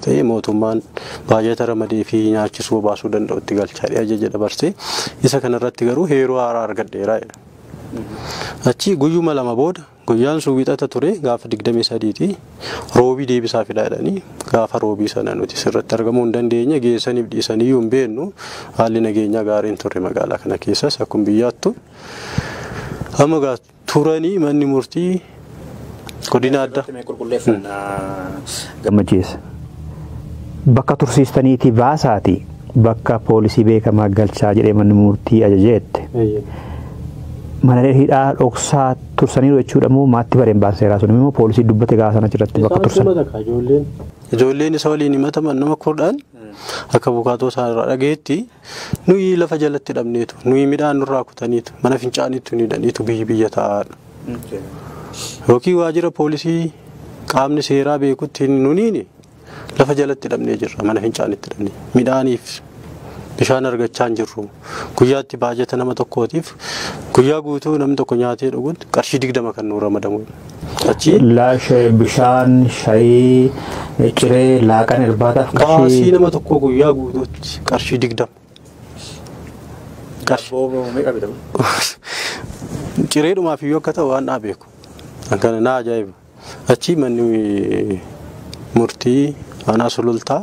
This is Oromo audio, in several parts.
ta'e mootummaan baajata ramadeefii nyaachisuu bobaasuu danda'utti galchaa jedhee ajaja dabarse. Isa kanarratti garuu heeruu haaraa argadheera jedha. Achi guyyuma lama booda guyyaan sun wixata ture gaafa 23ti roobii deebisaa fidaa jedhanii gaafa roobii sana nuti sirratti argamuu hin dandeenye geessaniif dhiisaniyyuu hin beeknu haalli nageenyaa gaariin ture magaalaa kana keessas akkuma biyyaattu. Amma gaa turanii manni murtii godina adda. Gammachiis. Bakka tursiistaniitii baasaati bakka poolisii beekamaa galchaa jedhee manni murtii ajajeette. Mana hidhaa dhoksaa tursaniiru jechuudha moo maatti bareen baanseeraa sun immoo poolisii dubbate gaafa sana achirratti bakka tursan. Ijoolleen isa waliin himataman nama kudhan akka bukaatoo isaa irraa dhageetti. Nuyi lafa jalatti dhabneetu, nuyi midhaan nurraa kutaniitu, mana fincaaniitu hin hidhaniitu biyyi biyya taa'aadha. Yookiin waajjira poolisii qaamni seeraa beekutti hin nuniini lafa jalatti dhabnee jirra, mana fincaanitti dhabnee. Midhaaniif bishaan argachaa hin jirru. Guyyaatti baajata nama tokkootiif guyyaa guutuu namni tokko nyaatee dhuguun qarshii digdama kan nuu ramadamu. Achi. Laashee bishaan shayii ciree laaqan irbaataaf Baasii qarshii nama tokkoo guyyaa guutuutti qarshii digdama. Daabboo meeqa bitamu? Cireedhumaaf iyyuu akka ta'u waan naa beeku. Akkana naa ajaa'iba. Achi manni murtii aanaa sulultaa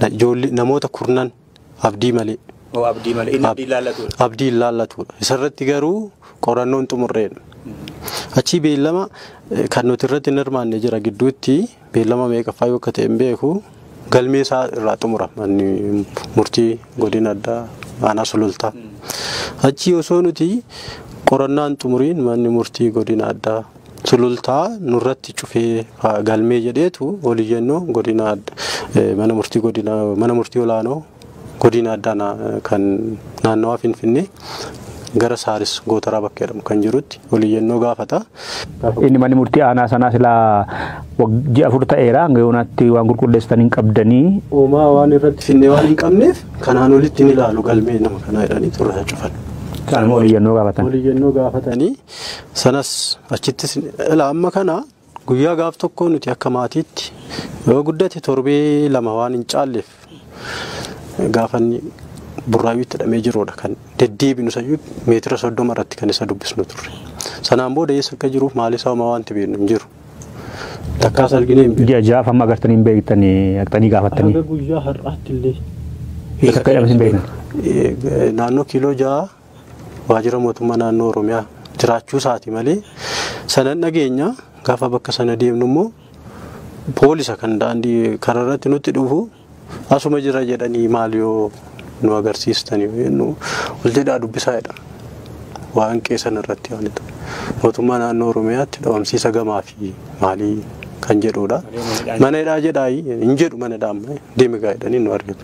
Na- ijoollee- namoota kurnan abdii malee Oo abdii malee inni abdii laallatuudha. abdiin laallatuudha. Isarratti garuu qorannoon xumurreedha. Achii beellama eh, kan nuti irratti hin hirmaanne jira gidduutti beellama meeqaffaa yoo akka ta'e hin beeku galmee isaa irraa xumura manni murtii godina addaa aanaa sulultaa. Achii osoo nuti qorannaan xumuriin manni murtii godina addaa sulultaa nurratti cufee faa galmee jedheetu ol iyyannoo godina mana murtii godina mana murtii olaanoo godina addaa na- kan naannawaa Finfinnee gara Saaris Gootaraa bakka jedhamu kan jirutti ol iyyannoo gaafata. Inni manni murtii aanaa sanaa silaa wag- ji'a afur ta'eera hanga yoonaatti waan qulqulleessitan hin qabdanii Uumaa waan irratti finnee waan hin qabneef kanaan olitti ni ilaalu galmee nama kanaa jedhanii turraa cufan. isaan immoo ol iyyannoo gaafatan. Ol iyyannoo gaafatanii Sanas achittis ilaa amma kana guyyaa gaaf tokkoo nuti akka maatiitti yoo guddate torbee lama waan hin caalleef gaafanni burraayyuutti hidhamee jiruudha kan deddeebinu sayyuu meetira soddoma irratti kan isa dubbisnu turre. Sanaan booda eessa akka jiruuf maalisaa homaa wanti beeknu hin jiru. Takkaas arginee hin beeknu. Ji'a jaaf amma agartanii hin beektanii dhaqxanii gaafattanii. Haga guyyaa har'aatti illee. Eessa akka hidhames hin beektan. Naannoo kiiloo ja'a waajjira mootummaa naannoo Oromiyaa jiraachuu isaati malee sanan dhageenya gaafa bakka sana deemnu immoo poolisa kan daandii kararratti nutti dhufu asuma jira jedhanii maal yoo nu agarsiistanii jennu waljedhaa dubbisaa jedha. Waan qeesan irratti waan ta'e. Mootummaa naannoo Oromiyaatti dhabamsiisa gamaa fi maalii kan jedhudha. Mana hidhaa jedhaa hin jedhu mana hidhaa amma deemi gaa jedhanii nu argatu.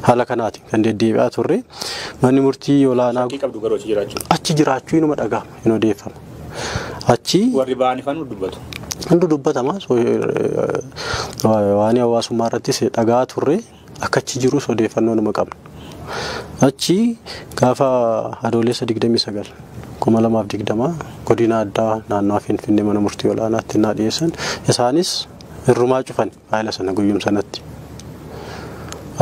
Haala kanaatiin kan deddeebi'aa turre manni murtii olaanaa Shakkii qabdu garuu achi jiraachuu. achi jiraachuu inuma dhaga'ama hin odeeffama. Achi Warri ba'an ifaan nu dubbatu. hundi dubbatama so- eh, waan hawaasummaa irrattis dhaga'aa turre akka achi jirus odeeffannoo numa qabna. Achi gaafa adoolessa 29 2020 godina addaa naannoo Finfinnee mana murtii olaanaatti naa dhiyeessan isaanis irrumaa cufani. Faayila sana guyyum sanatti.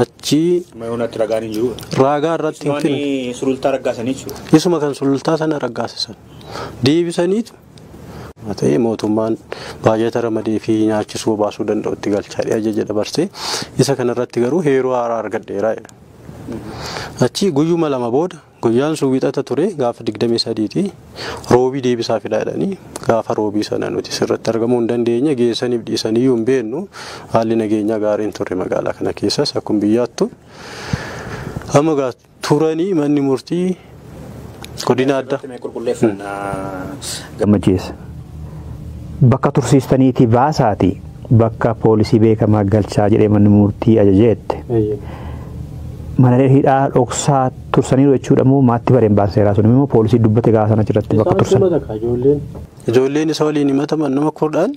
Achii Mayoonatti ragaan hin jiru. raagaa irratti hin fidne. Waan sulultaa raggaasanii jechuudha. Isuma kan sulultaa sana raggaasisan. Deebisaniitu Haa ta'ee mootummaan baajata ramadee fi nyaachisuu baasuu danda'u itti galchaa jedhee ajaja dabarsee isa kanarratti garuu heeruu haaraa argadheera jedha. Achii guyyuma lama booda Guyyaan sun Wixata ture, gaafa 23 ti. Roobii deebisaa fidaa jedhanii gaafa Roobii sana nuti sirratti argamuu hin dandeenye, geessaniif dhiisaniyyuu hin beeknu. Haalli nageenyaa gaarii hin turre magaalaa kana keessas akkuma biyyaattu. Amma egaa turanii manni murtii godina addaa. Irratti mee qulqulleeffannaa. Gammachiis. Bakka tursiistaniitii baasaati bakka poolisii beekamaa galchaa jedhee manni murtii ajajeette. Mana hidhaa dhoksaa tursaniiru jechuudha moo maatti bareen baasa seeraa sun immoo poolisii dubbate gaafa sana achirratti bakka Isaan tursan. sumata akka ijoolleen. Ijoolleen isa waliin himataman nama kurdhaan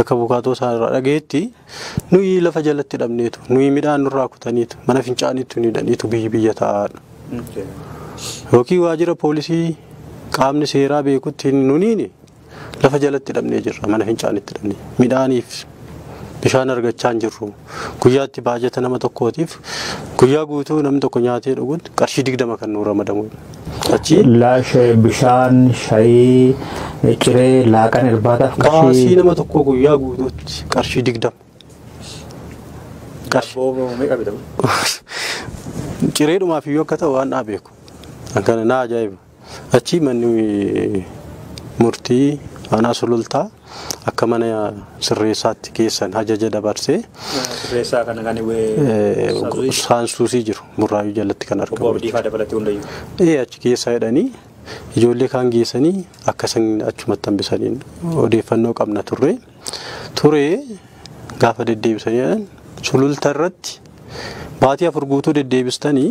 akka bukaatoo isaa irraa dhageetti nuyi lafa jalatti dhabneetu nuyi midhaan nurraa kutaniitu mana fincaaniitu ni dhaniitu biyyi biyya taa'aadha. Yookiin waajjira poolisii qaamni seeraa beekutti nuniini Lafa jalatti hidhamnee jirra, mana fincaanitti hidhamnee. Midhaaniif bishaan argachaa hin jirru. Guyyaatti baajata nama tokkootiif guyyaa guutuu namni tokko nyaatee dhuguun qarshii digdama kan nuu ramadamu. Achi Laashe bishaan, shayii, ciree, laaqan irbaataaf baasii qarshii nama tokkoo guyyaa guutuutti qarshii digdama. Qarshii Booboo meeqa bitamu? cireedhumaaf iyyuu akka ta'u waan naa beeku. Kan kana naa ajaa'iba. Achii manni murtii aanaa sulultaa akka mana sirreessaatti keessan hajaja dabarsee Sirreessaa kana kan eh, saansuusii jiru burraayuu jalatti kan obbo argamu. Abdiifaa dabalatee hundayyuu. Ee achi keessaa jedhanii ijoollee kaan geessanii akka isaan achumatti hambisaniin odeeffannoo qabna turre. Ture gaafa deddeebisanii jedhan sululta irratti baatii afur guutuu deddeebistanii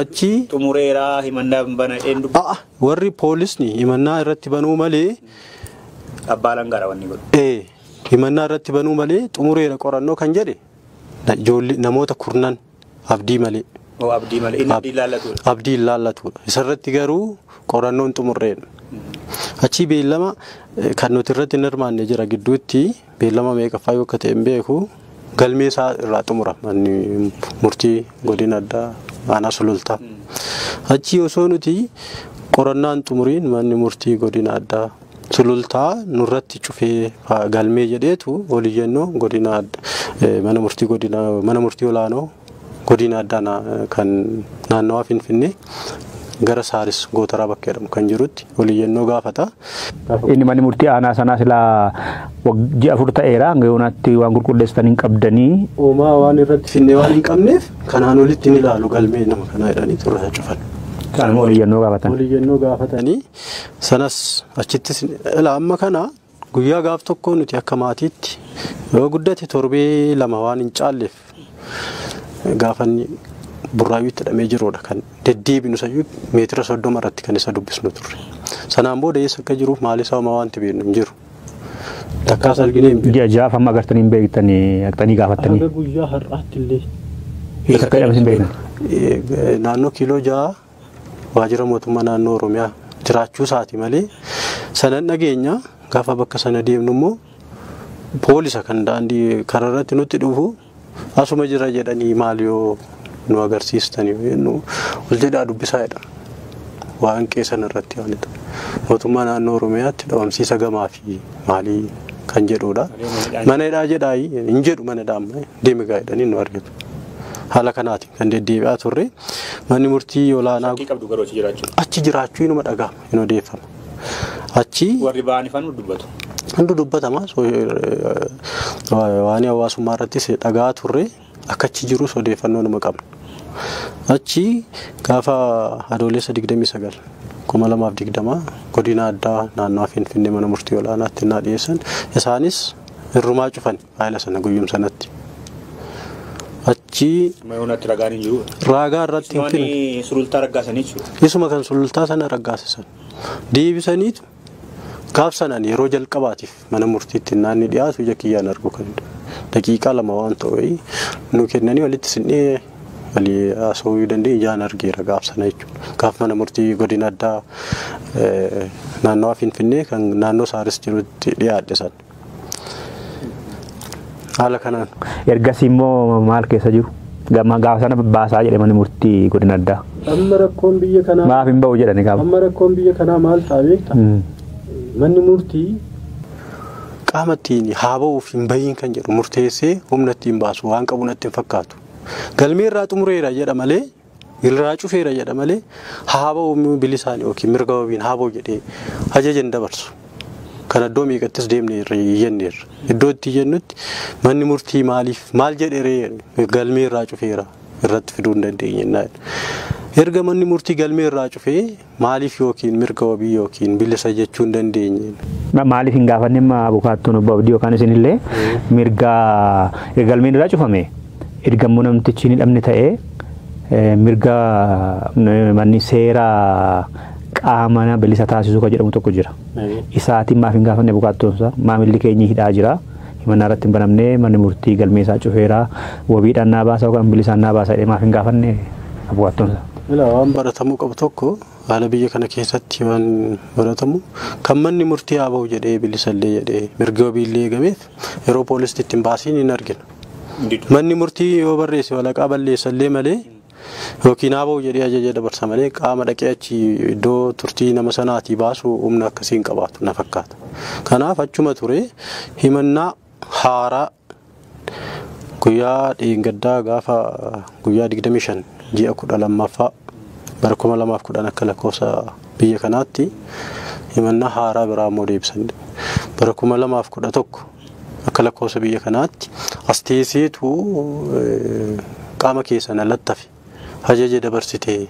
Achi xumureera himannaa hin bana jedheen dubbi a'a warri poolisni himannaa irratti banuu malee abbaa langaara wanni godhu. ee himannaa irratti banuu malee xumureera qorannoo kan jedhe na- ijoollee namoota kurnan abdii malee Oo abdii malee inni abdii laallatudha. abdii hin laallatudha. Isarratti garuu qorannoon xumurreedha. Achii beellama eh, kan nuti irratti hin hirmaanne jira gidduutti Beellama meeqaffaa yoo akka ta'e hin beeku. Galmee isaa irraa xumura manni murtii godina addaa aanaa sulultaa. Achii osoo nuti qorannaan xumuriin manni murtii godina addaa sulultaa nurratti cufee galmee jedheetu oliyyannoo godina mana murtii godina mana murtii olaanoo Godina addaa na, kan naannawaa Finfinnee gara Saaris Gootaraa bakka jedhamu kan jirutti ol iyyannoo gaafata. Inni manni murtii aanaa sanaa silaa wag- ji'a afur ta'eera hanga yoonaatti waan qulqulleessitan hin qabdanii Hoomaa waan irratti finnee waan hin qabneef kanaan olitti hin ilaalu galmee nama kanaa jedhanii turraa cufan. kanuma ol iyyannoo gaafatan. Ol iyyannoo gaafatanii sanas achittis ilaa amma kana Guyyaa gaaf tokkoo nuti akka maatiitti yoo guddate torbee lama waan hin caalleef gaafanni burraayyuutti hidhamee jiruudha kan deddeebinu sayyuu meetira soddoma irratti kan isa dubbisnu turre. Sanaan booda eessa akka jiruuf maalisaa homaa wanti beeknu hin jiru. Takkaas arginee hin beeknu. Ji'a jahaaf amma agartanii hin beektanii dhaqxanii gaafattanii. Haga guyyaa har'aatti illee Eessa akka hidhames hin beektan. Eh, naannoo kiiloo ja'a waajjira mootummaa naannoo Oromiyaa jiraachuu isaati malee sanan dhageenya gaafa bakka sana deemnu immoo poolisa kan daandii kararratti nutti dhufu asuma jira jedhanii maal yoo nu agarsiistanii jennu ol jedhaa dubbisaa jedha. Waan qeesan irratti waan ta'e. Mootummaa naannoo Oromiyaatti dhabamsiisa gamaa fi maalii kan jedhudha. Mana hidhaa jedhaa hin jedhu mana hidhaa amma deemi gaa jedhanii nu argatu. Haala kanaatiin kan deddeebi'aa turre manni murtii olaanaa Shakkii qabdu garuu achi jiraachuu. achi jiraachuu inuma dhaga'ama hin odeeffama. Achi Warri ba'an ifaan dubbatu. hundi dubbatama so- eh, waan hawaasummaa irrattis dhaga'aa turre akka achi jirus odeeffannoo numa qabna. Achi gaafa adoolessa 29 kuma lamaaf digdama godina addaa naannoo Finfinnee mana murtii olaanaatti naa dhiyeessan isaanis irrumaa cufani. Faayila sana guyyum sanatti. Achii Mayoonatti ragaan hin jiru. raagaa irratti hin fidne. Waan sulultaa raggaasanii jechuudha. Isuma kan sulultaa sana raggaasisan. Deebisaniitu gaaf sanaan yeroo jalqabaatiif mana murtiitti naanni dhiyaatu ija kiyyaan arguu kan danda'u. Daqiiqaa lama waan ta'u wayii nu kennanii walitti sinnee walii haasawuu danda'e ijaan argeera gaaf sana jechuudha. Gaaf mana murtii godina addaa eh, naannawaa Finfinnee kan naannoo Saaris jirutti dhiyaadhe sana. Haala kanaan. Ergasii immoo maal keessa jiru? Gama gaafa sana baasaa jedhe manni murtii godina addaa. Amma rakkoon biyya kanaa Maaf hin ba'u jedhani gaafa. amma rakkoon biyya kanaa maal ta'a beekta? Mm. Manni murtii qaama ittiin haa ba'uuf hin bahiin kan jedhu murteessee humna ittiin baasu waan qabu natti hin fakkaatu. Galmee irraa xumureera jedha malee Irraa cufeera jedha malee haaba'u immoo bilisaan yookiin mirga wabiin haaba'u jedhee ajaja hin dabarsu. Kana iddoo meeqattis deemnee irra iyyanneerra. Iddoo itti iyyannutti manni murtii maaliif maal jedheree galmee irraa cufeera irratti fiduu hin dandeenye. Erga manni murtii galmee irraa cufee Maaliif ykn mirga wabii ykn bilisa jechuu hin dandeenye? Maaliif hin gaafanne amma abukaattoon obbo Abdii yookaan isinillee mirga erga galmeen irraa cufame erga immoo namtichi hin hidhamne ta'ee mirga manni seera qaamana bilisa taasisuu kan jedhamu tokko jira. Isaatiin maaf hin gaafanne abukaattoon isaa maamilli keenyi hidhaa jira. Himannaa irratti hin banamne, manni murtii galmee isaa cufeera, wabiidhaan naa baasa yookaan bilisaan naa baasa jedhee maaf hin gaafanne abukaattoon isaa? Ilaa waan baratamuu qabu tokko haala biyya kana keessatti waan baratamu kan manni murtii haa bahu jedhee bilisa illee jedhee mirgi wabii illee eegameef yeroo poolisti itti hin baasiin hin argina. Manni murtii yoo barreesse walaqaa balleessa illee malee Yookiin ABOf jedhee ajaja dabarsa malee qaama dhaqee achi iddoo turtii nama sanaatii baasu humna akkasii hin qabaatu na fakkaata. Kanaaf achuma ture himannaa haaraa guyyaa dheengaddaa gaafa guyyaa 25 ji'a 12ffaa bara 2010 akka lakkoofsa biyya kanaatti himannaa haaraa biraa immoo deebisan bara 2011 Akka lakkoofsa biyya kanaatti as teesseetu qaama keessan alatti hafe ajaja dabarsite.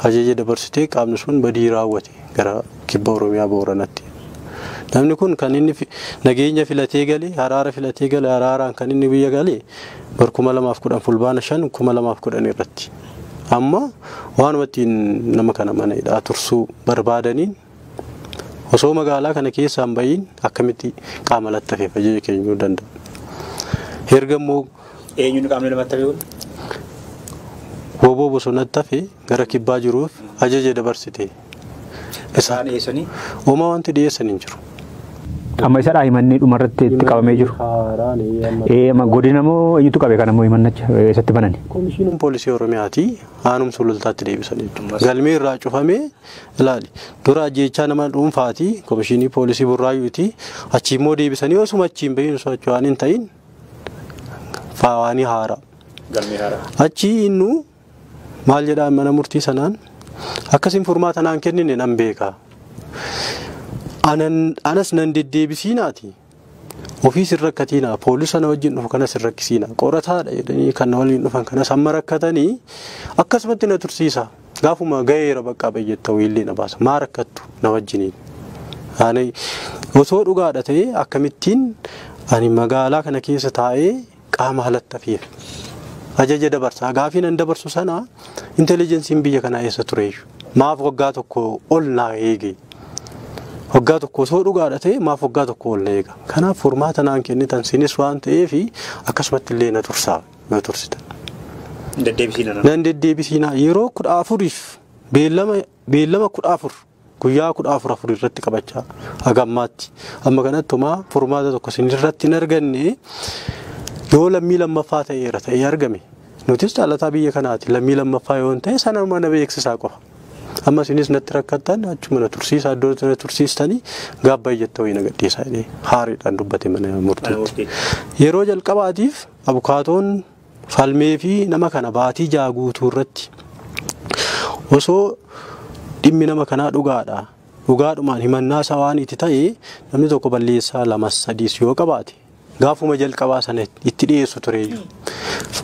Ajaja dabarsitee qaamni sun badii raawwate gara kibba Oromiyaa Booranatti. Namni kun kan inni fi- nageenya filatee gale, haraara filatee gale, haraaraan kan inni biyya gale bara 2010 fulbaana 5 2010 irratti. Amma waanuma ittiin nama kana mana hidhaa tursuu barbaadaniin Osoo magaalaa kana keessaa hin ba'iin akkamitti qaama lattafe fajee keenyuu danda'a. Erga immoo Eenyuun qaamni lamattafe kun? woboo bosonatti hafe gara kibbaa jiruuf ajaja dabarsite. Isaan eessanii? Uumaa wanti dhiyeessan hin jiru. Amma isadhaa himannii dhumarratti itti qabamee jiru. Haaraan amma Ee amma godina moo eenyutu qabe kana moo himannacha eessatti banani? Komishiiniin poolisii Oromiyaati aanum sulultaatti deebisanii galmee irraa cufamee Ilaali, dura ajjeechaa nama dhuunfaati, Komishinii Poolisii Burraayyuuti, achii immoo deebisanii osuma achii hin bahin osoo achii waan hin ta'in faawaanii haara. Galmee haara. Achii innu maal jedhaan mana murtii sanaan akkasiin furmaata naan kennine nan beeka. Anan- Anas nan deddeebisiinaati. Ofiis hin rakkatiinaa poolisa na wajjin dhufu kanas hin rakkisiinaa qorataadha jedhanii kan na waliin dhufan kanas amma rakkatanii akkasumatti na tursiisa gaafuma gaheera baqqaa ba'i jetta wiillee na baasa maa rakkattu na wajjiniin. Ani osoo dhugaadha ta'e akkamittiin ani magaalaa kana keessa taa'ee qaama alatti hafeef ajaja dabarsaa gaafii nan dabarsu sana intelligensiin biyya kanaa eessa tureeyyu maaf waggaa tokko ol naa eege waggaa tokko osoo dhugaadha ta'e maaf waggaa tokko ol na eega kanaaf furmaata naan kennitan sinis waan ta'eef akkasumatti illee na tursaa na tursitan. Deddeebisiin Nan deddeebisiinaa yeroo kudha afuriif beellama beellama kudha afur guyyaa kudha afur afur irratti qabachaa haga ammaatti amma kanatti homaa furmaata tokko isin irratti hin arganne yoo lammii lammaffaa ta'eera ta'ee argame nutis caalataa biyya kanaati lammii lammaffaa yoo ta'e sana mana beeksisaa qofa. Amma isinis natti rakkattan achuma na tursiisa iddoo na tursiistanii gaabba iyyatti ho'i na gadhiisaa jedhee haariidhaan dubbate mana murtiitti. Yeroo jalqabaatiif abukaatoon falmeefi nama kana baatii jaha guutuu irratti osoo dhimmi nama kanaa dhugaadha dhugaadhumaan himannaa isaa waan itti ta'e namni tokko balleessaa lamas sadiis yoo qabaate gaafuma jalqabaa sana itti dhiyeessu tureeyyu.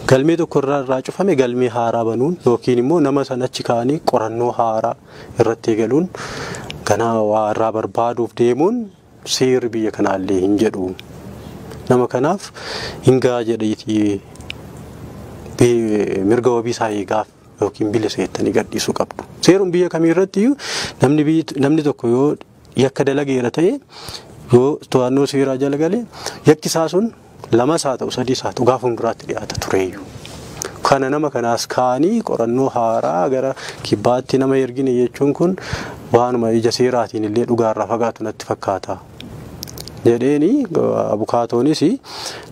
Galmee tokko irraa irraa cufame galmee haaraa banuun yookiin immoo nama sana achi kaa'anii qorannoo haaraa irratti eegaluun ganaa waa irraa barbaaduuf deemuun Seerri biyya kanaallee hin jedhu. Nama kanaaf hin ga'a jedheeti bi- mirga wabii isaa eegaaf yookiin bilisa jettanii gadhiisuu qabdu. Seeruma biyya kamii irratti iyyuu namni biyyi- namni tokko yoo yakka dalageera ta'e yoo to'annoo seeraa jala gale yakki isaa sun Lamas haa ta'u sadiis haa ta'u gaafa hunduraatti dhiyaata tureeyyu. Kana nama kanaas kaanii qorannoo haaraa gara kibbaatti nama ergine jechuun kun waanuma ija seeraatiin illee dhugaarraa fagaatu natti fakkaata. jedheeni abukaatoonis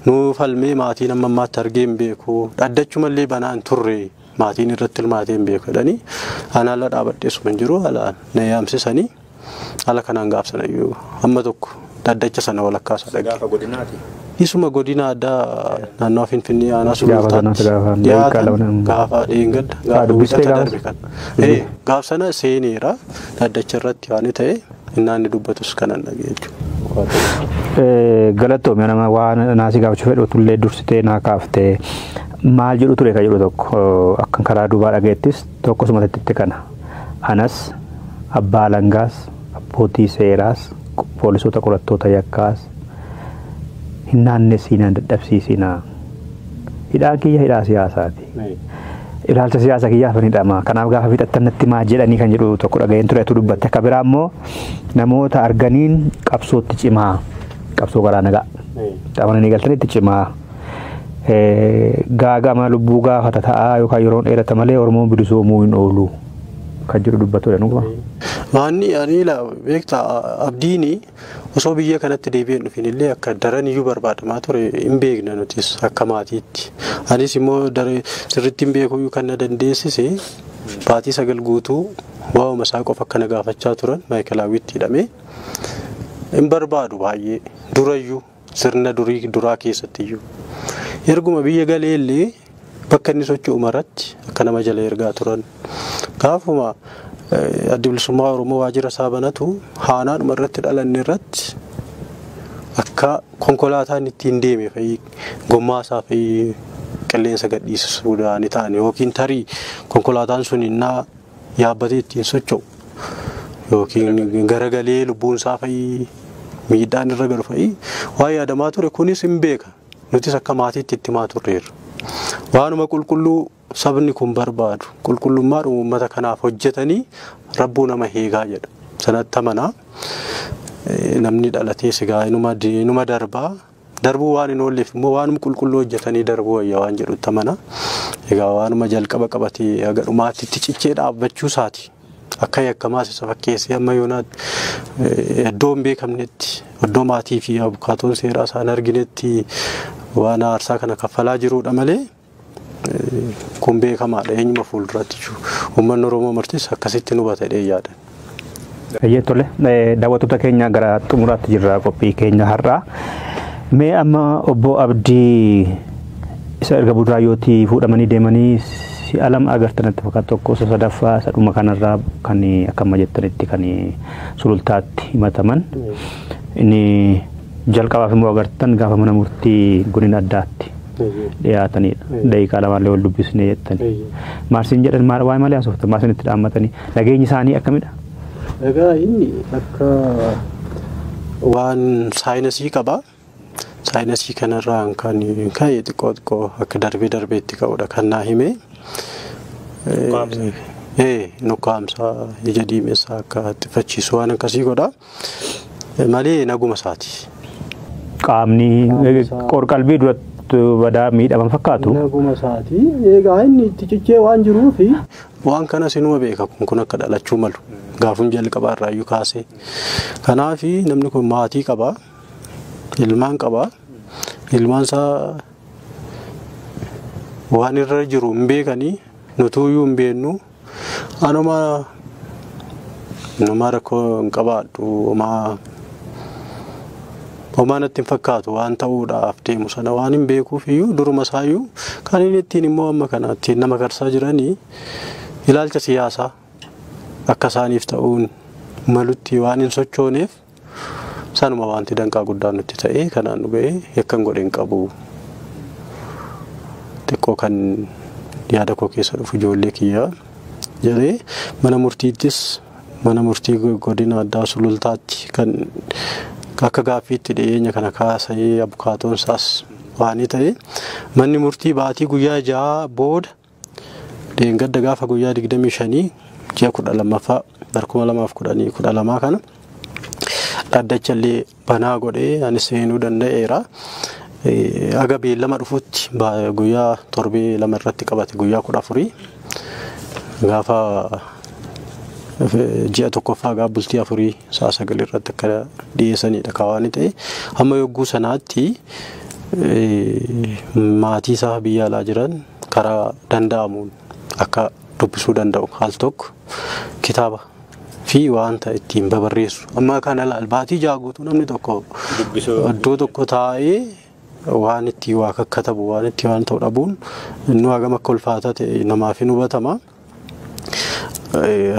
nu falmee maatiin amma ammaatti argee hin beeku dhaddachuma illee banaa hin turre maatiin irratti hirmaatee hin beeku jedhanii anaa ala dhaabadheessuma hin jiru alaan na yaamsisanii Haala kanaan gaaf sanayyuu amma tokko dhaddacha sana walakkaa isaa dhagge. Gaafa godinaati. Isuma godina addaa naannoo Finfinnee aanaa Gaafa sana Sulultaatti gaafa dhiyaatan dhiyaatan. gaafa dheengadda Ah, gaafa dubbistee wiixata gaafas? darbe kan. Ee, Eeyyee. Gaaf sana seeneera dhaddacha irratti waan ta'e innaan inni dubbatus kanan dhagee jechuudha. Eh, Galatoomi nama waan naasii gaafachuu fedhu tullee dursitee naa kaaftee maal jedhu ture ka jedhu tokko akkan karaa duubaa dhageettis Tokkos matitti kana. Anas, Abbaa Alangaas, Abbootii Seeraas, Poolisoota Qorattoota Yakkaas hin naannessiinaa, hin dadhabsiisinaa. Hidhaan kiyya hidhaa siyaasaati. Ilaalcha siyaasa kiyyaaf hin hidhamaa. Kanaaf gaafa fixattan natti himaa jedhanii kan jedhu tokko dhaga'een ture atuu dubbatte. Akka biraa immoo namoota arganiin qabsootti cimaa. Qabsoo karaa nagaa. Qaamana ni galtanitti cimaa. gaagama lubbuu gaafata ta'a yookaan yeroon dheerata malee Oromoon bilisoomuu hin oolu kan jedhu dubbatudha dhuguma. Maanni ani laa beekta abdiini osoo biyya kanatti deebi'ee hin dhufin illee akka daran iyyuu barbaadamaa ture hin beekna nutis akka maatiitti. Anis immoo sirriitti hin beeku kan na dandeessise baatii sagal guutuu waa'uma isaa qofa akka na gaafachaa turan maayikalaawwiitti hidhamee hin barbaadu baay'ee durayyuu. Sirna durii duraa keessattiyyuu. Erguma biyya galee illee bakka inni socho'u maratti akka nama jala ergaa turan. Gaafuma eh, addi bilisummaa Oromoo waajjira isaa banatu haanaadhuma irratti dhalanne irratti akka konkolaataan ittiin deeme fa'i gommaa isaa fa'i qilleensa gadhiisisuu ni ta'an yookiin tarii konkolaataan sun innaa yaabbatee ittiin socho'u yookiin garagalee lubbuun isaa fa'ii miidhaan irra galu fa'ii waan yaadamaa ture kunis hin beeka nutis akka maatiitti itti himaa turreerra. Waanuma qulqulluu sabni kun barbaadu qulqullummaadhuma uummata kanaaf hojjetanii rabbuu nama heegaa jedha sanatti amanaa namni dhalatee sigaa inuma darbaa. Darbuu waan hin oolleef immoo waanuma qulqulluu hojjetanii darbuu wayya waan jedhutti amana. Egaa waanuma jalqaba qabatee haga dhumaatti itti cichee dhaabbachuu isaati. Akka yakkamaas isa fakkeessee amma yoonaatti eh, iddoo hin beekamnetti, iddoo maatii fi abukaatoon seeraa isaan arginetti waan aarsaa kana kaffalaa jiruudha malee Kun beekamaadha eenyuma fuulduraatti jiru. Uummanni Oromoo martis akkasitti hubata jedhee yaada. Hayyee tole daawwattoota keenya gara xumuraatti jirra qophii keenya har'aa. Mee amma obbo Abdii isa erga Burraayyootii fuudhamanii deemanii si'a lama agartan natti fakkaata tokko isa sadaffaa isa dhuma kanarraa kan akka amma jettanitti kan sulultaatti himataman. Inni Jalqabaaf immoo agartan gaafa mana murtii godina addaatti dhiyaatanidha. Daqiiqaa lamaallee wal dubbisnee jettan. Maal siin jedhan maal waa'ee malee haasoftan maal isinitti dhaammatanii nageenyi isaanii akkamidha? Egaa inni akka waan saayinasii qaba. Saayinasii kanarraan kan ka'e xiqqoo xiqqoo akka darbee darbee itti ka'udha kan naa hime. Ee nukkaamsa ija diimessa akka xiffachiisu waan akkasii godha. Malee naguma isaati. Qaamni qorqalbii duratti badaa miidhaman fakkaatu. Naguma isaati. Egaa inni itti cichee waan jiruufi. Waan kana sinuma beeka kun kun akka dhalachuu malu. Gaafum jalqabaa irraayyuu kaasee. Kanaaf namni kun maatii qaba. Ilmaan qaba. Ilmaan isaa waan irra jiru hin beekanii nutuuyyuu hin beeknu. Anuma numa rakkoo hin qabaadhu homaa homaa natti hin fakkaatu waan ta'uudhaaf deemu sana waan hin beekuuf iyyuu duruma isaa iyyuu kan inni ittiin immoo amma kana ittiin nama karsaa jiranii ilaalcha siyaasaa akka isaaniif ta'uun malutti waan hin sochooneef Sanuma wanti danqaa guddaa nutti ta'ee kanaan nu ga'e yakkan godhe hin qabu. Xiqqoo kan yaada koo keessa dhufu ijoollee kiyyaa jedhee mana murtiittis mana murtii godina addaa sulultaatti kan akka gaaffiitti dhiyeenya kana kaasee abukaatoon isaas waanii ta'e manni murtii baatii guyyaa ja'a booda Dheengadda gaafa guyyaa 25 ji'a 12ffaa bara 2012 kana dhaddacha illee banaa godhee anis seenuu danda'eera. Aga beellama dhufutti guyyaa torbee lama irratti qabate guyyaa 14 gaafa ji'a tokkoffaa gaafa bultii afurii sa'a sagal irratti akka dhiyeessanidha kawaani ta'e. Amma yogguu sanaatti maatii isaa biyya alaa jiran karaa danda'amuun akka dubbisuu danda'u al tokko kitaaba fi wanta ittiin babarreessu amma kana laal baatii ja'a guutuu namni tokko Dubbisuu. iddoo tokko taa'ee waan itti waa kakkatabu waan itti waan ta'u dhabuun inni hagam akka ulfaataa ta'e namaaf hin hubatama.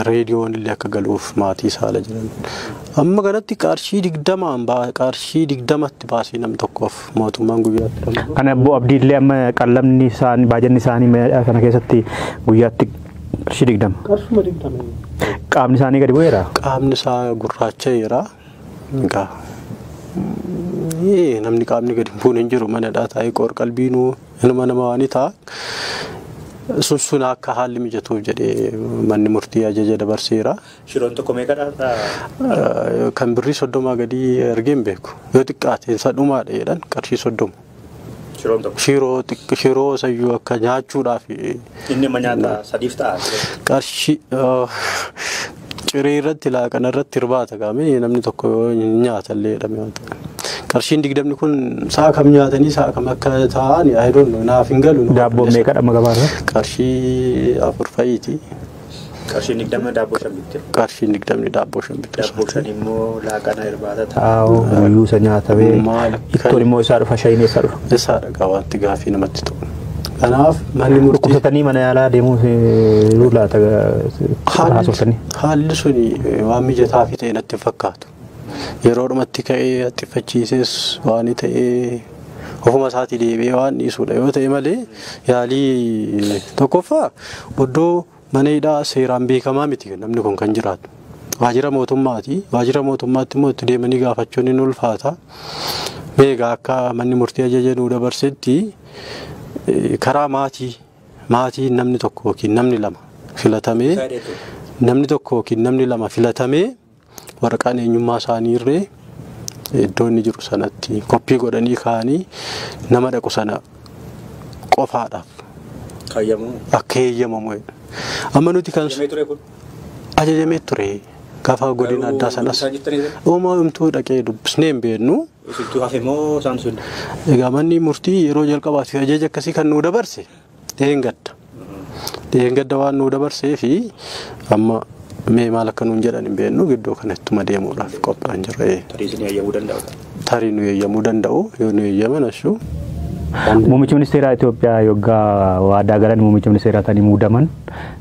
reediyoon illee akka galuuf maatii isaa ala jiran. Amma kanatti qarshii digdamaan qarshii digdamatti baasii nam tokkoof mootummaan guyyaatti ramadu. Kana obbo Abdiillee amma qallamni isaanii baajanni isaanii meeshaa kana keessatti guyyaatti qarshii digdama. Qarshuma digdama. Qaamni isaanii gadi bu'eera. Qaamni isaa gurraacha'eera. Egaa namni qaamni gadi bu'uun hin jiru manadhaa taa'ee qoor qalbiinuu. Inuma nama waanii ta'a. Sun sun akka haalli mijatuuf jedhee manni murtii ajaja dabarseera. Shiroon tokko meeqadha? Eh, Kan birrii soddomaa gadii ergee hin beeku. Yoo xiqqaate isa dhumaadha jedhan qarshii soddoma. Shiroon tokko. Shiroo xiqq- shiroo sayyuu akka nyaachuudhaaf Inni amma nyaata sadiif ta'a. qarshii Ciree irratti laaqana irratti irbaata gaamee namni tokko yoo hin nyaata illee jedhame waan ta'e. Qarshiin digdamni kun sa'a kam nyaatanii sa'a kam akka taa'an I don't know naaf hin galu. nama Daabboon qindeessu. meeqa dhamma gabaarra? Qarshii afur fa'iiti. Qarshiin digdama daabboo shan bitte. Qarshiin digdamni daabboo shan bitte. Daabboo shan immoo laaqana irbaata taa'u guyyuu isa nyaatamee Maali? ittoon immoo isaa dhufa shayiin eessaa dhufa? Isaa dhagaa wanti gaafii namatti ta'u. Kanaaf manni murtii Dhukkubsatanii mana yaalaa deemuu yoo laata haalli haasofsanii. haalli sun waan mijataa fi ta'e natti hin fakkaatu. Yeroo dhumatti ka'ee haxxiffachiisees waan ta'ee ofuma isaatii deebi'ee waan dhiisudha yoo ta'e malee yaalii tokkoffaa oddoo Mana hidhaa seeraan beekamaa miti namni kun kan jiraatu. Waajjira mootummaati. Waajjira mootummaatti immoo itti deemanii gaafachuun hin ulfaata. Meegaa akka manni murtii ajaja nuu dabarsetti karaa maatii maatiin namni tokko yookiin namni lama filatamee namni tokko yookiin namni lama filatamee waraqaan eenyummaa isaanii irree iddoo inni jiru sanatti koppii godhanii kaa'anii nama dhaqu sana qofaadhaaf Kaayyamu. akka eeyyamamu. Amma nuti kan Yemee ture kun. ajajamee ture gaafa godina Garuu addaa sanas isaa jettanii ture? uumaa himtuu dhaqee dubbisnee hin beeknu. Isintu hafe moo isaan sun? Egaa manni murtii yeroo jalqabaatiif ajaja akkasii kan nu dabarse Dheengadda. Dheengadda waan nuu dabarsee fi amma mee maal akka nuun jedhan hin beeknu gidduu kana ittuma deemuudhaaf qophaan jirra. Tarii isin eeyyamuu danda'u. Tarii nu eeyyamuu danda'u yoo nu eeyyaman ashuu. Muummichi ministeeraa Itoophiyaa yoggaa waadaa galan muummichi ministeeraa ta'anii muudaman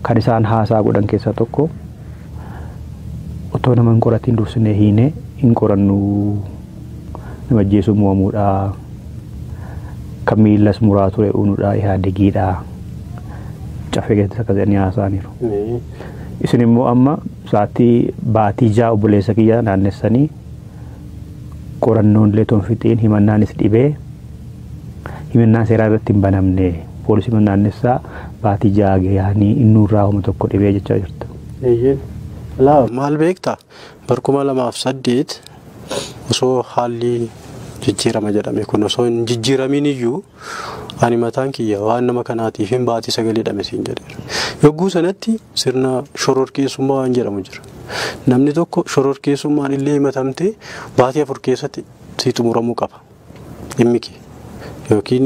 kan isaan haasaa godhan keessaa tokko otoo nama hin qoratiin dursinee hiinee hin qorannuu nama ajjeesuun mo'amuudha. Kan miilas muraa ture unuudha ihaadegiidha. Caffee keessatti akkas jedhanii haasa'aniiru. Isin immoo amma sa'aatii baatii ja'a obboleessa kiyya naannessanii qorannoon illee ton fixiin himannaanis dhibee himannaan seeraa irratti hin banamne poolisii naannessaa baatii ja'a gahanii innuurraa homa tokko dhibee jechaa jirta. Eeyyeen. Laa maal beektaa? Bara 2008 osoo haalli jijjiirama jedhame kun osoo hin jijjiiramiin iyyuu ani mataan kiyya waan nama kanaatiif hin baatii sagal hidhame siin jedheera. Yogguu sanatti sirna shororkeessummaa waan jedhamu jira. Namni tokko shororkeessummaan illee himatamtee baatii afur keessatti sii xumuramuu qaba. dhimmi kee yookiin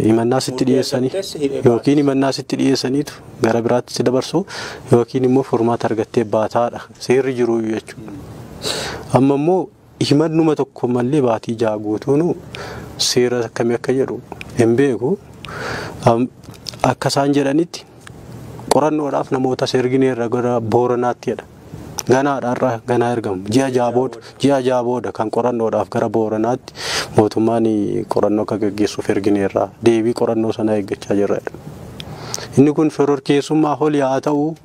himannaa sitti dhiyeessanii yookiin himannaa sitti dhiyeessaniitu gara biraatti si dabarsu yookiin immoo furmaata argattee baataadha seerri jiru jechuudha. Amma immoo himannuma tokko malee baatii ja'a guutuun seera akkamii akka jedhu hin beeku. Am- Akka isaan jedhanitti qorannoodhaaf namoota seergineerra gara booranaatti jedha. Ganaadha har'a ganaa ergamu. Ji'a ja'a booda ji'a ja'a booda kan qorannoodhaaf gara Booranaatti mootummaan qorannoo akka gaggeessuuf ergineerra. Deebii qorannoo sanaa eeggachaa jirra. Inni kun shororkeessummaa holi haa ta'u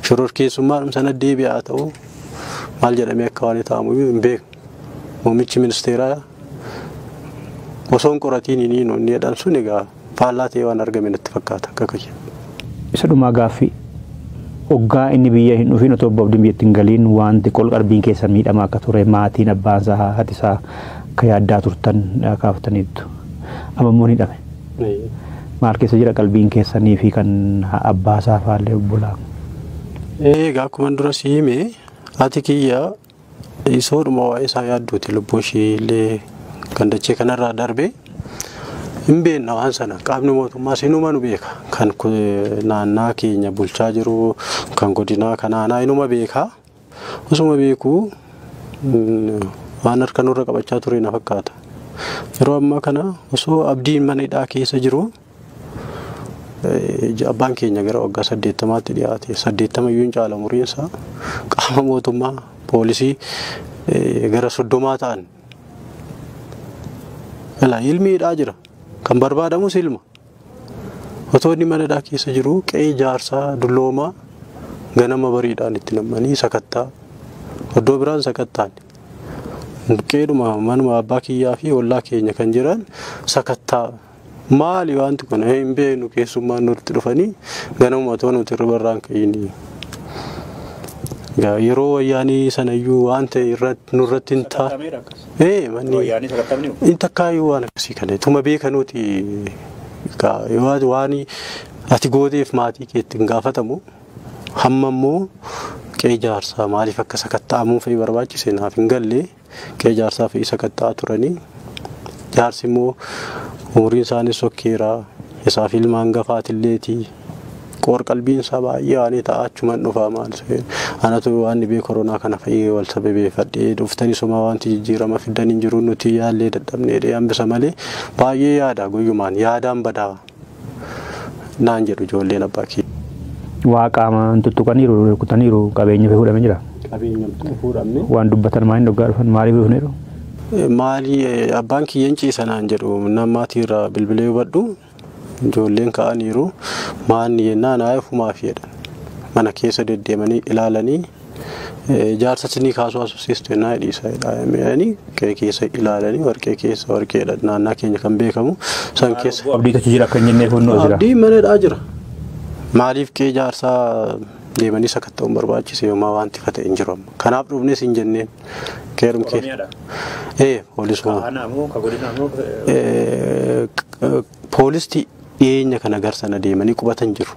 shororkeessummaadhum sana deebi'a haa ta'u maal jedhamee akka waan ta'amu hin beeknu. Muummichi ministeeraa osoo hin qoratiin inni jedhan sun egaa faallaa ta'ee waan argame natti fakkaata akka kiyya. Isa dhumaa gaaffi oggaa inni biyya hin dhufiin otoo obbo Abdiin biyyatti hin galiin waanti qol qarbiin keessa miidhama akka ture maatiin abbaan isaa haati isaa akka yaaddaa turtan kaaftaniittu. Amma immoo ni dhame. Maal keessa jira qalbiin keessanii fi kan abbaa isaa faallee obbolaa? Egaa akkuma dura si hime haati kiyya Dhiisoodhuma waa'ee isaa yaadduuti lubbuu ishii illee kan dachee kanarraa darbee hin beekna waan sana qaamni mootummaa sinuma nu beeka kan ku- naannaa keenya bulchaa jiru kan godinaa kan aanaa inuma beeka osuma beekuu mm, waan harka nurra qabachaa ture na fakkaata yeroo ammaa kana osoo abdiin mana hidhaa keessa jiru Abbaan keenya gara waggaa saddeettamaatti dhiyaate saddeettama iyyuu hin caala umuriinsaa qaama mootummaa poolisii gara soddomaa ta'an ilaa ilmi hidhaa jira kan barbaadamus ilma otoo inni mana hidhaa keessa jiru qe'ee jaarsaa dulloomaa ganama bariidhaan itti nam'anii sakattaa iddoo biraan sakattaan qeedhuma manuma abbaa kiyyaa fi ollaa keenya kan jiran sakattaa Maali wanti kun hin beeknu keessummaan nutti dhufanii ganamuma otoo nuti hirriba irraa hin ka'ini. Gaa yeroo wayyaanii sanayyuu waan ta'e irratti nurratti hin taa. Sakamera akkas. Ee manni Wayyaanii sakatamni hoo? in takkaayyuu waan akkasii kana tuma beekanuuti gaa yoo ati waan ati gooteef maatii keetti hin gaafatamu hamma immoo qe'ee jaarsaa maaliif akka sakatta'amuu fa'i barbaachise naaf hin galle. Qe'ee jaarsaa fe'ii sakatta'aa turanii jaarsi immoo umuriin isaanii sokkeera isaa fi ilma hangafaatilleeti qoor qalbiin isaa baay'ee waanii ta'a achuman dhufaa maal anatu waan dhibee koronaa kana fa'ii wal sababeeffadhee dhuftanii somaa wanti jijjiirama fiddan hin jiru nuti yaallee dadhabneedhee hambisa malee baay'ee yaada guyyumaan yaadaan badaa naan jedhu ijoolleen abbaa kiyya. Waa qaama hin tuttuqaniiru rukutaniiru qabeenya fi fuudhame jira. Qabeenya hin fuudhamne. Waan dubbatan maaliin dhoggaa dhufan maaliif dhufneeru? Maali abbaan kiyya hin ciisa naan jedhu namaatii irraa bilbilee hubadhu ijoolleen ka'aniiru maanni jennaan haa ofumaaf jedhan mana keessa deddeemanii ilaalanii Jaarsa sinii kaasuu haasofsiistu ennaa dhiisa jedhaanii qe'ee keessa ilaalanii warqee keessa warqeedha naannaa keenya kan beekamu san keessa. Abdii kachi jira akka hin jennee fuunnoo jira. Abdii manadhaa jira. Maaliif qe'ee jaarsaa deemanii sakatta'uun barbaachise yooma wanti fate hin jiru amma. Kanaaf dhufnes hin jenneen. Keerum keessa. Ee poolisuma. Kaanaa moo ka godinaa moo. Poolisti dhiyeenya kana gar sana deemanii qubatan jiru.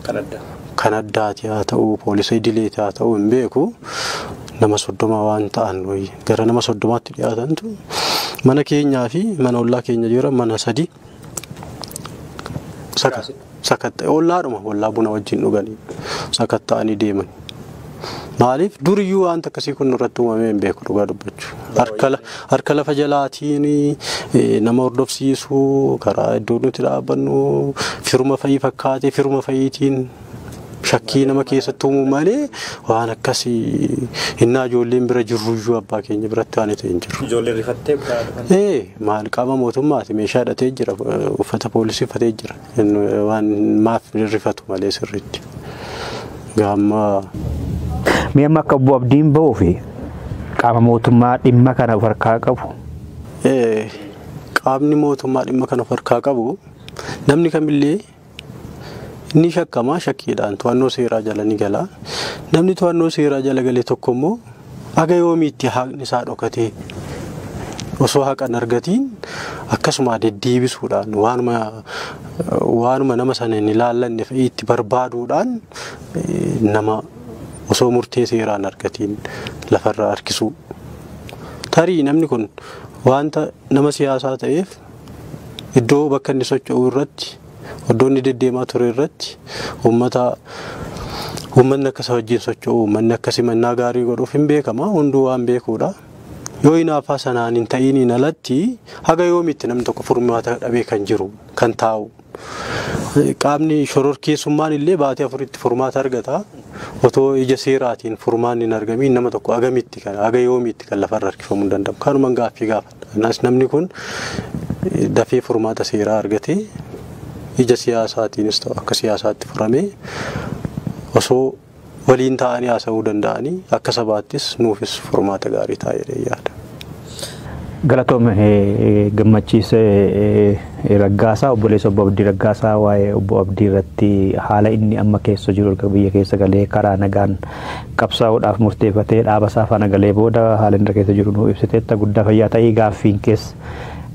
Kan addaa. Kan addaati haa ta'uu, poolisa idileeti haa ta'uu hin beeku. Nama soddoma waan ta'an wayii gara nama soddomaatti dhiyaatantu mana keenyaa fi mana ollaa keenya jira mana sadi saka. sakatta'e ollaadhuma ollaa buna wajjin dhuganii sakatta'anii deeman. Maaliif duriyyuu wanta akkasii kun irratti uumamee hin beeku dhugaa dubbachuu. Harka la- Harka lafa jalaatiin eh, nama hordofsiisuu karaa iddoo nuti dhaabbannu firuma fayii fakkaatee firuma fayiitiin shakkii nama keessatti uumuu malee waan akkasii innaa ijoolleen bira jirruyyuu abbaa keenya biratti waan ta'e hin jiru. Ijoolleen rifattee biraa dhufan. Ee maal qaama mootummaati meeshaa hidhatee jira uffata poolisii uffatee jira waan maaf rifatu malee sirriitti. Gaamma Mee amma akka obbo Abdiin ba'uu fi qaama mootummaa dhimma kana of harkaa qabu ee, qaamni mootummaa dhimma kana of harkaa qabu namni kamillee Inni shakkamaa shakkiidhaan to'annoo seeraa jala ni gala. Namni to'annoo seeraa jala gale tokko immoo haga yoomiitti haqni isaa dhokatee osoo haqa hin argatiin akkasuma deddeebisuudhaan waanuma waanuma nama sana hin ilaallanne fa'ii itti barbaaduudhaan eh, nama osoo murtee seeraa hin argatiin lafarraa harkisuu. Tarii namni kun wanta nama siyaasaa ta'eef Iddoo bakka inni socho'u irratti, iddoo inni deddeemaa ture irratti uummata uummatni akka isa wajjin socho'u, uummanni akka simannaa gaarii godhuuf hin beekama. Hunduu waan beekuudha. Yoo hinaaffaa sanaan hin ta'iiniin alatti haga yoomiitti namni tokko furmaata dhabee kan jiru, kan taa'u. Qaamni shororkeessummaan illee baatii afuritti furmaata argata. Otoo ija seeraatiin furmaanni hin argamiin nama tokko agamitti kan haga yoomiitti kan lafarra harkifamuu hin danda'amu. Kanuman gaaffii gaafa. Kanaas namni kun dafee furmaata seeraa argatee ija siyaasaatiinis ta'u akka siyaasaatti furamee osoo waliin taa'anii haasa'uu danda'anii akka sabaattis nuufis furmaata gaarii ta'a jedhee yaada. Galatoom gammachiis raggaasaa obboleessa obbo Abdii Raggaasaa waa'ee obbo Abdii irratti haala inni amma keessa jiru erga biyya keessa galee karaa nagaan qabsaa'uudhaaf murteefatee dhaaba isaa faana galee booda haala inni keessa jiru nuu ibsiteetta guddaa fayyaa ta'ii gaaffiin kees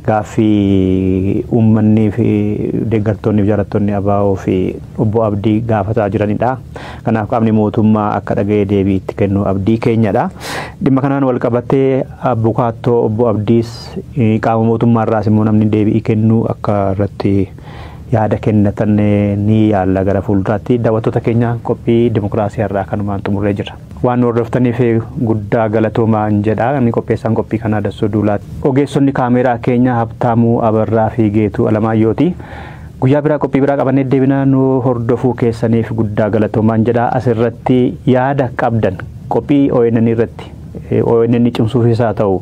gaaffii uummannii fi deeggartoonni fi jaalattoonni abaa'oo fi obbo Abdii gaafataa jiranidha. Kanaaf qaamni mootummaa akka dhaga'ee deebii itti kennu abdii keenyadha. Dhimma kanaan wal qabatee abukaattoo obbo Abdiis qaama mootummaa irraas immoo namni deebii kennuu akka irratti yaada kennatan ni yaalla gara fuulduraatti. Daawwattoota keenya qophii dimokiraasii har'aa kanumaan xumurree jirra. Waan nu hordoftaniif guddaa galatoomaan jedha. Inni qopheessaan qophii kanaa Dassoo Duulaati. Ogeessonni kaameeraa keenya Habtaamuu Abarraa fi Geetuu Alamaayyooti. Guyyaa biraa qophii biraa qabannee deebina nu hordofuu keessaniif guddaa galatoomaan jedha. Asirratti yaada qabdan qophii ONN irratti ONN cimsuufis haa ta'u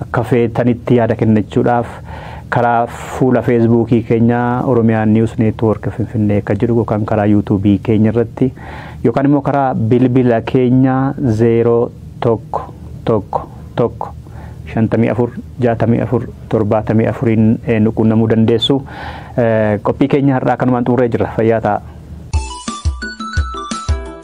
akka feetanitti yaada kennachuudhaaf karaa fuula feesbuukii keenya Oromiyaa News Network Finfinnee akka jedhu yookaan karaa yuutuubii keenya irratti yookaan immoo karaa bilbila keenya 01 tokko tokko 54 64 74n nu quunnamuu dandeessu. Qophii keenya har'aa kanumaan xumurree jirra. Fayyaa ta'aa.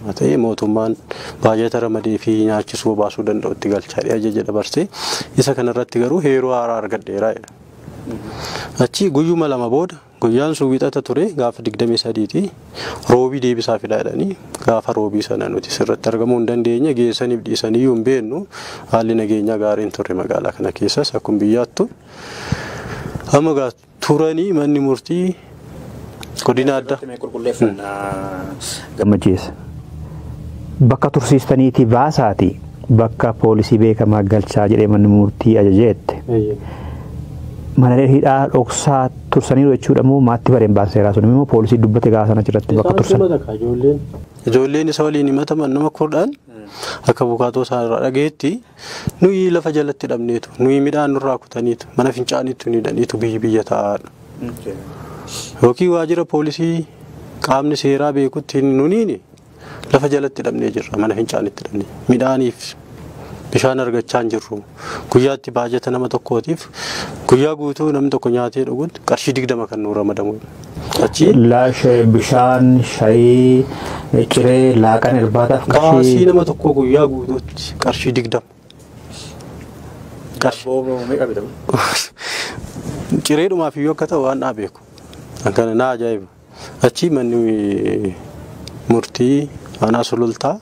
ta'e mootummaan baajata ramadeefii nyaachisuu obaasuu danda'utti galchaa jedhee ajaja dabarse. Isa kanarratti garuu heeruu haaraa argadheera jedha. Achi guyyuma lama booda guyyaan sun wixata ture gaafa 23ti roobii deebisaa fidaa jedhanii gaafa roobii sana nuti sirratti argamuu hin dandeenye geessaniif dhiisaniyyuu hin beeknu haalli nageenyaa gaariin turre magaalaa kana keessas akkuma biyyaattu. Amma turanii manni murtii godina adda. Gammachiis. Bakka tursiistaniitii baasaati bakka poolisii beekamaa galchaa jedhee manni murtii ajajeette. Mana hidhaa dhoksaa tursaniiru jechuudha moo maatti bareen baanseeraa sun immoo poolisii dubbate gaafa sana achirratti bakka tursan. Ijoolleen isa waliin himataman nama kudhan akka bukaatoo isaa irraa dhageetti. Nuyi lafa jalatti dhabneetu, nuyi midhaan nurraa kutaniitu, mana fincaaniitu hin hidhaniitu biyyi biyya taa'aadha. Yookiin waajjira poolisii qaamni seeraa beekutti hin nuniini lafa jalatti dhabnee jirra, mana fincaanitti dhabnee. Midhaaniif bishaan argachaa hin jirru. Guyyaatti baajata nama tokkootiif guyyaa guutuu namni tokko nyaatee dhuguun qarshii digdama kan nuu ramadamu. Achi. Laashe bishaan shayii ciree laaqan irbaataaf Baasii qarshii nama tokkoo guyyaa guutuutti qarshii digdama. Daabboo meeqa bitamu? Cireedhumaaf iyyuu akka ta'u waan naa beeku. Kan kana naa ajaa'iba. Achi manni murtii aanaa sulultaa